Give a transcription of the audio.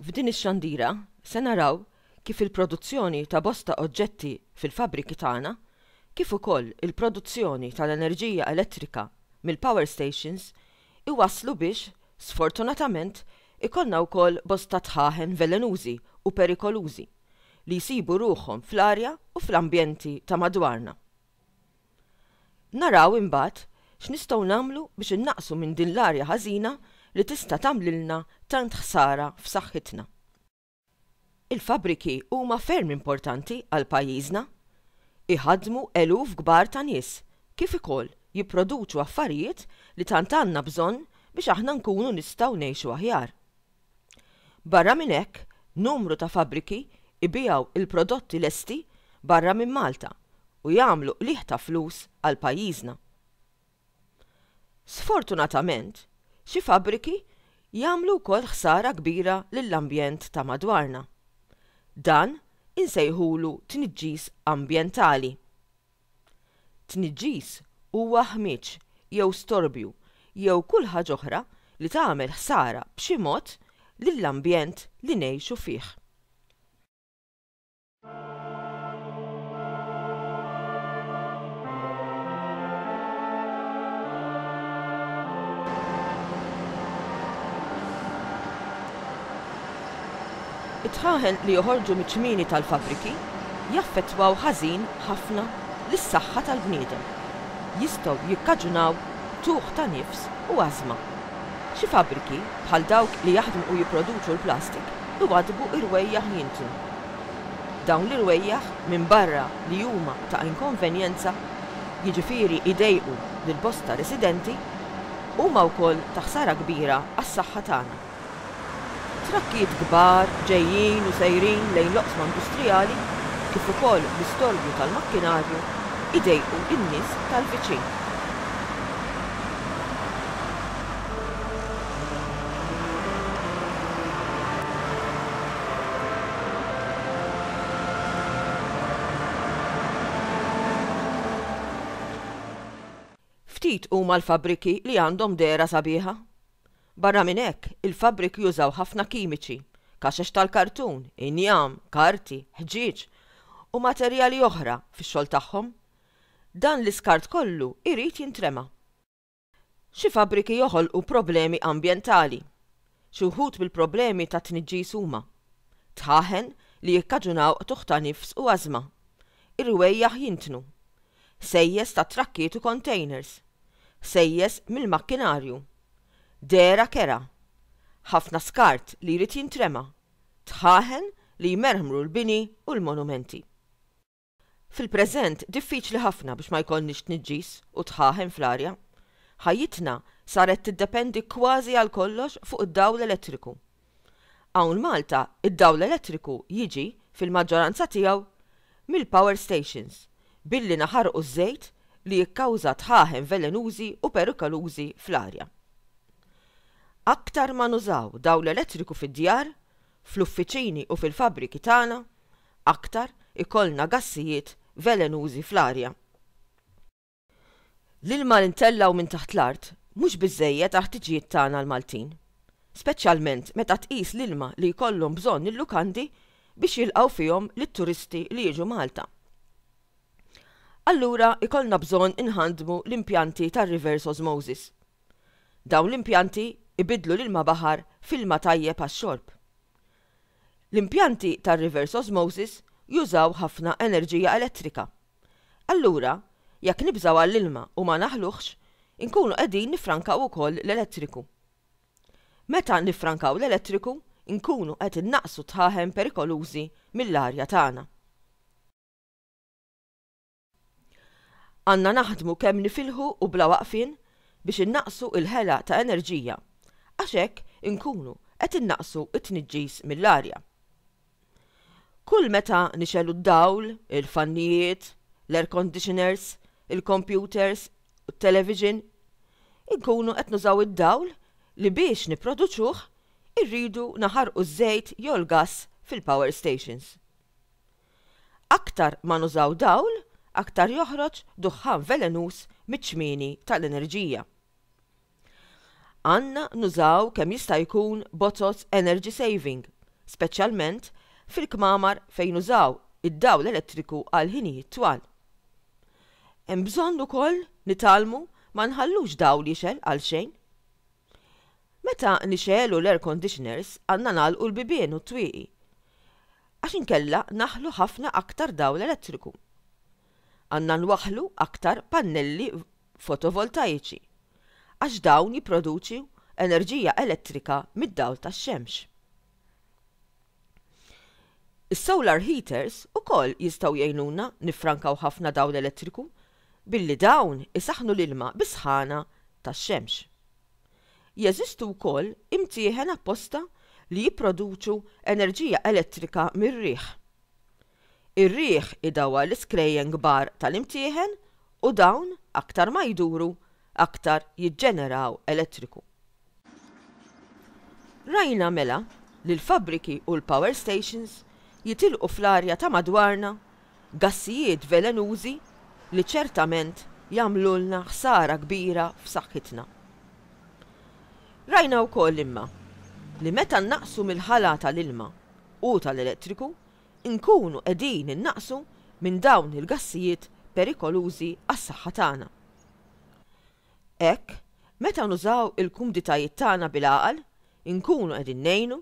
F'din ix-xandira se naraw kif il-produzzjoni ta' bosta oġġetti fil-fabbriki tagħna, kif ukoll il-produzzjoni tal-enerġija elettrika mill-power stations iwasslu biex, sfortunatament, ikollna wkoll bosta dħaħen velenużi u perikolużi li jsibu ruħhom fl-arja u fl-ambjenti ta' madwarna. Naraw, imbagħad, x'nistgħu nagħmlu biex innaqqsu minn din l-arja ħażina li tista' tagħmlilna tant ħsara f'saħħitna. Il-fabbriki huma ferm importanti għal pajjiżna. Iħaddmu eluf kbar ta' nies, kif ukoll jipproduċu affarijiet li tant għandna bżonn biex aħna nkunu nistgħu ngħixu aħjar. Barra minn hekk, numru ta' fabbriki jbiegħu l-prodotti lesti barra minn Malta u jagħmlu qligħ ta' flus għal pajjiżna. Sfortunatament, xi fabbriki jagħmlu wkoll ħsara kbira lill-ambjent ta' madwarna. Dan insejħulu tniġġis ambjentali. Tniġġis huwa ħmieġ jew storbju jew kull ħaġa oħra li tagħmel ħsara b'xi mod lill-ambjent li ngħixu fih. Id-dħaħen li joħorġu miċ-ċmieni tal-fabbriki jaffettwaw ħażin ħafna lis-saħħa tal-bniedem. Jistgħu jikkaġunaw tuħ ta' nifs u ażma. Xi fabbriki, bħal dawk li jaħdmu u jipproduċu l-plastik, iwaddbu irwejjaħ jintu. Dawn l-irwejjaħ, minbarra li huma ta' inkonvenjenza, jiġifieri jdejqu lil bosta residenti, huma wkoll ta' ħsara kbira għas-saħħa tagħna. Trakkijiet kbar ġejjin u sejrin lejn l-oqsma industrijali kif ukoll l-istorbju tal-makkinarju jdejqu n-nies tal-viċin. Ftit huma l-fabbriki li għandhom dehra sabiħa. Barra minn hekk, il-fabbriki jużaw ħafna kimiċi, kaxex tal-kartun, injam, karti, ħġieġ, u materjali oħra fix-xogħol tagħhom. Dan l-iskart kollu jrid jintrema. Xi fabbriki joħolqu problemi ambjentali. Xi wħud mill-problemi tat-tniġġis huma, dħaħen li jikkaġunaw qtugħ ta' nifs u ażma, irwejjaħ jintnu, sejjes tat-trakkiet u kontejners, sejjes mill-makkinarju, dehra kerha, ħafna skart li jrid jintrema, dħaħen li jmerħmru l-bini u l-monumenti. Fil-preżent diffiċli ħafna biex ma jkollniex tniġġis u dħaħen fl-arja. Ħajjitna saret tiddependi kważi għal kollox fuq id-dawl elettriku. Hawn Malta d-dawl elettriku jiġi fil-maġġoranza tiegħu mill-power stations billi naħarqu ż-żejt li jikkawża dħaħen velenużi u perikolużi fl-arja. Aktar ma nużaw dawl elettriku fid-djar, fl-uffiċini u fil-fabbriki tagħna, aktar ikollna gassijiet velenużi fl-arja. L-ilma li ntellgħu minn taħt l-art mhux biżżejjed għall-ħtiġijiet tagħna l-Maltin, speċjalment meta tqis l-ilma li jkollhom bżonn il-lukandi biex jilqgħu fihom lit-turisti li jiġu Malta. Allura jkollna bżonn inħandmu l-impjanti tar-reverse osmosis. Dawn l-impjanti jbiddlu l-ilma baħar f'ilma tajjeb għax-xorb. L-impjanti tar-reverse osmosis jużaw ħafna enerġija elettrika. Allura, jekk nibżgħu għall-ilma u ma naħluhx, inkunu qegħdin niffrankaw ukoll l-elettriku. Meta niffrankaw l-elettriku, inkunu qed innaqqsu t-tħaħen perikolużi mill-arja tagħna. Għandna naħdmu kemm nifilħu u bla waqfien biex innaqqsu l-ħela ta' enerġija għax hekk inkunu qed innaqqsu t-tniġġis mill-arja. Kull meta nixegħlu d-dawl, il-fannijiet, l-air conditioners, il-kompjuters u t-television, inkunu qed nużaw id-dawl li biex nipproduċuh irridu naħarqu ż-żejt jew il-gass fil-power stations. Aktar ma nużaw dawl, aktar joħroġ duħħan velenuż miċ-ċmieni tal-enerġija. Għandna nużaw kemm jista' jkun bozoz energy saving, speċjalment fil-kmamar fejn nużaw id-dawl elettriku għal ħinijiet twal. Hemm bżonn ukoll nitgħallmu ma nħallux dawl jixgħel għalxejn. Meta nixegħlu l-air conditioners għandna nagħlqu l-bibien u t-twieqi għax inkella naħlu ħafna aktar dawl elettriku. Għandna nwaħħlu aktar pannelli fotovoltajiċi għax dawn jipproduċu enerġija elettrika mid-dawl tax-xemx. Is-solar heaters ukoll jistgħu jgħinuna niffrankaw ħafna dawl elettriku billi dawn isaħħnu l-ilma bis-sħana tax-xemx. Jeżistu wkoll imtieħen apposta li jipproduċu enerġija elettrika mir-riħ. Ir-riħ idawwar l-iskrejjen kbar tal-imtieħen u dawn aktar ma jduru aktar jiġġeneraw elettriku. Rajna mela li l-fabbriki u l-power stations jitilqu fl-arja ta' madwarna gassijiet velenużi li ċertament jagħmlulna ħsara kbira f'saħħitna. Rajna wkoll imma li meta nnaqqsu mill-ħala tal-ilma u tal-elettriku, inkunu qegħdin innaqqsu minn dawn il-gassijiet perikolużi għas-saħħa tagħna. Hekk, meta nużaw il-kumditajiet tagħna bil-għaqal, inkunu qegħdin ngħinu